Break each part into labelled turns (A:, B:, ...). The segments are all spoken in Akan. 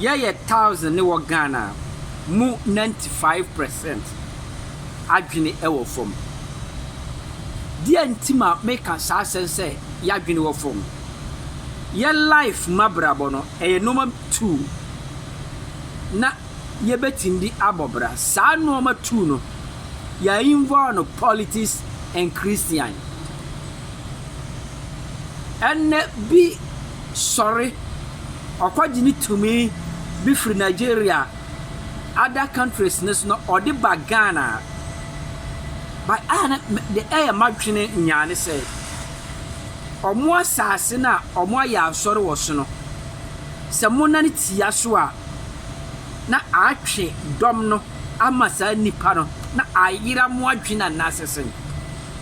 A: Yɛ yɛ thousand ne wɔ Ghana a mo ninety five percent adwene ɛwɔ fam. Deɛ nti ma me ka saa asɛm sɛ y'adwene wɔ fam. Yɛ life mu abrabɔ no ɛyɛ nnoɔma two na yɛ bɛtumi de abɔ bra. Saa nnoɔma two no yɛ involve no politics and Christian. Ɛnɛ bi sɔre, ɔkɔgye ne tumi bi firi Nigeria, other countries no so na ɔde ba Ghana. But a na me de ɛyɛ m'adwene nyaa ne sɛ, wɔn asase no a wɔayɛ asɔre wɔ so no, sɛ monane tia so a, na atwe dɔm no ama saa nnipa no na ayera mo adwene anaasɛ sɛn?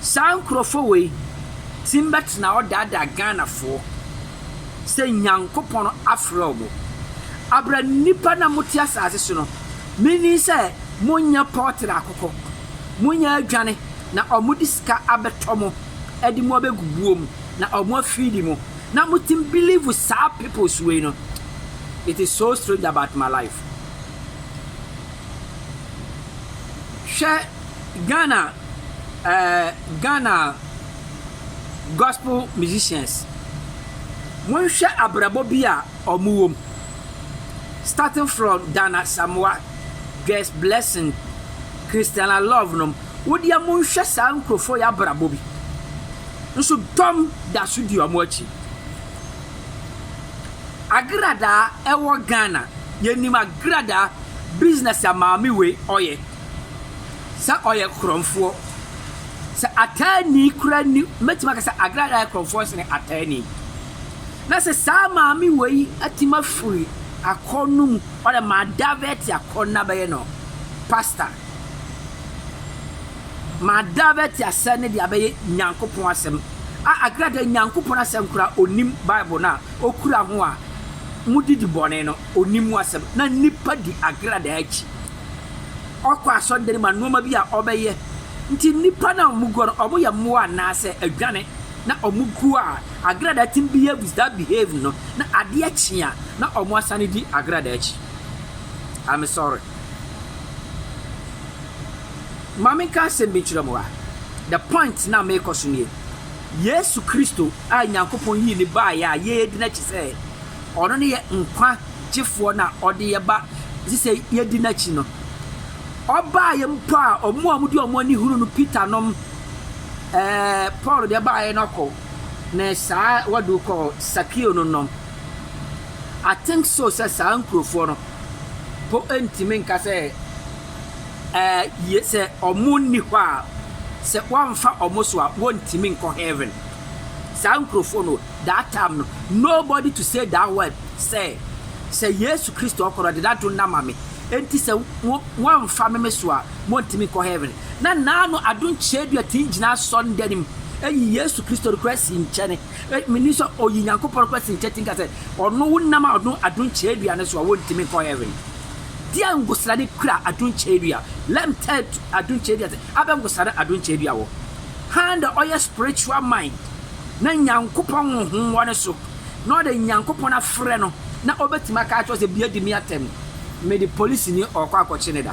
A: Saa nkurɔfoɔ wei tim bɛtena hɔ daadaa Ghanafoɔ sɛ Nyankopɔn afrɛ ɔmo. Abrɛ nnipa no a mote asaase so no, menni sɛ monyɛ pɔɔtere akokɔ, monyɛ adwane na ɔmo de sika abɛtɔ mo de mo abɛgu buo mu na ɔmo afeedi mo na motim believe saa peoples wei no it is so strange about my life. Hwɛ Ghana eh, Ghana gospel musicians, monhwɛ abrabɔ bi a ɔmo wom. Starting from Dan Asamoah, Joyce Blessing, Christiana Love nom, wo deɛ monhwɛ saa nkorɔfoɔ yi abrabɔ bi. Nso dɔm da so di ɔmo akyi. Agradaa ɛwɔ Ghana, yɛnim agradaa business a maame wei ɔyɛ. sɛ ɔyɛ korɔmfoɔ. Sɛ ataani koraa nni hɔ, mɛtumi aka sɛ Agrada yɛ korɔmfoɔ sene ataani. Na sɛ saa maame wei atumi afiri akɔn no mu, ɔdɛ madavɛte akɔn no abɛyɛ no pasta. Madavɛte asɛm no de abɛyɛ Nyankopɔn asɛm. A Agrada Nyankopɔn asɛm koraa ɔnim Bible no a ɔkura ho a modidi bɔne no, ɔnim ho asɛm. Na nnipa di Agrada akyi. ɔkɔ asɔre dan mu a nnoɔma bi a ɔbɛyɛ nti nnipa no a wɔn guɔ no wɔn yɛ mmoa anaa sɛ adwane na wɔn guo a agradaa tim behaves that behave no na adeɛ kye a na wɔn asane di agradaa akyi I'm sorry maame nka asɛm bi nkyerɛ mo a the point na meekɔ so nie Yesu Kristo a Nyankopɔn yii ne baayɛ a yɛyɛ di n'akyi sɛ ɔno ne yɛ nkwa Gyefoɔ no a Ɔde yɛ ba, ɛsɛ sɛ yɛdi N'akyi no. Ɔbaeɛ mpo a, wɔn a wɔde wɔn ani hunu no, Peter nom, ɛɛ, Paul deɛ baeɛ no kɔ, ne saa wɔde kɔ Sakeo no nom. I think so sɛ saa nkurofoɔ no mpo ntumi nka sɛ, ɛɛ, yɛ, sɛ wɔn nni hɔ a, sɛ wɔamfa wɔn so a, wɔntumi nkɔ Heaven. Saa nkurɔfoɔ no that time no nobody to say that word sɛ sɛ Yesu Kristo ɔkɔ no ɔde n'adom no ama me enti sɛ wo wɔamfa me me so a montumi nkɔ heaven na naa no adom kyeedua tumi gyina asɔnnda no mu yi Yesu Kristo no koraa si nkyɛne menim sɛ ɔyi Nyankopɔn no koraa si nkyɛne nka sɛ ɔno wo nam a ɔno adom kyeedua no so a wontumi nkɔ heaven deɛ ngosra ne kura adom kyeedua let me tell adom kyeedua sɛ abɛ ngosra no adom kyeedua wɔ Hann dɛ ɔyɛ spiritual mind na Nyankopɔn honhom wɔ no so, na ɔde Nyankopɔn afrɛ no na ɔbɛtumi aka akyerɛ wo sɛ bia di me atɛm, mede polisini ɔɔkɔ akɔkye ne da.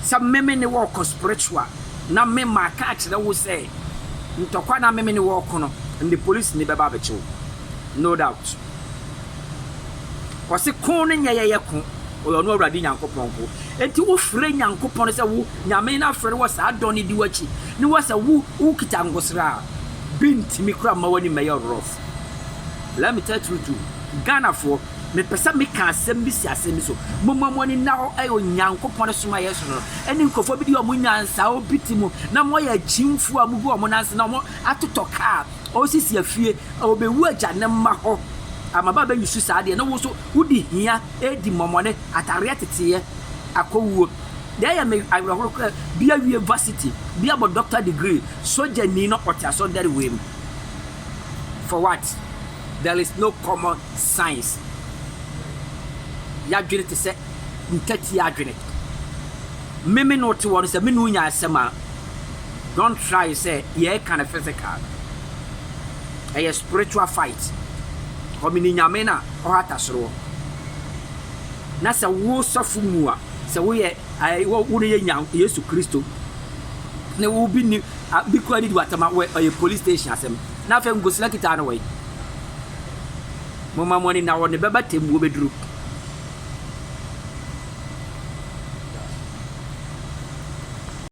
A: Sɛ me me ne wo ɔɔkɔ spiritual na me maka akyerɛ wo sɛ ntɔkwa na me me ne wo ɔɔkɔ no, mede polisini bɛba abɛkye wo. No doubt. Ɔse ko no nyɛ yɛyɛ ko, ɔyɛ ɔno Awurade Nyankopɔn ko. Enti wo frɛ Nyankopɔn sɛ wo Nyame no afrɛ no wɔ saa dɔ no di w'akyi ne wɔ sɛ wo wo kita nkosra a bi ntimi kora mma w'ani mmɛyɛ rough let me tell true to Ghana foɔ me pɛ sɛ me ka asɛm bi si asɛm bi so mo ma mo ani nna hɔ ɛyɛ Onyankopɔn ne soma yɛ so no ɛne nkurɔfoɔ bi di ɔmo nyansa a obi ti mu na mo yɛ akyimfoɔ a mo gu ɔmo nanse na ɔmo atotɔ kaa ɔsisi afie a obewu agya ne mma hɔ amaba bɛyi su saa deɛ na wo so wodi hia edi mmɔmɔne atareɛ teteɛ akɔwuo. Deɛ ɛyɛ me awerɛhoɔ koraa, bi awie varsity, bi abɔ doctor degree, sogyani na ɔte asɔndɛre wei mu. For what? There is no common science. Yɛadwene te sɛ ntatia adwene. Me me ne wo te hɔ no, sɛ me ne wo nya asɛm a, don't try sɛ yɛreka no physical. Ɛyɛ spiritual fight. Ɔmene Nyame no a ɔhata soro hɔ. Na sɛ wo sɔfo mu a, Sɛ woyɛ eh, wo, wo no yɛ nya Yesu Kristo ne wo bi ni a, bi kura ni di watama wɔ ɔyɛ police station asɛm na afei nkosila kita ano wɔyi mo ma mo ani na wɔ ne bɛba tɛm wo bɛduru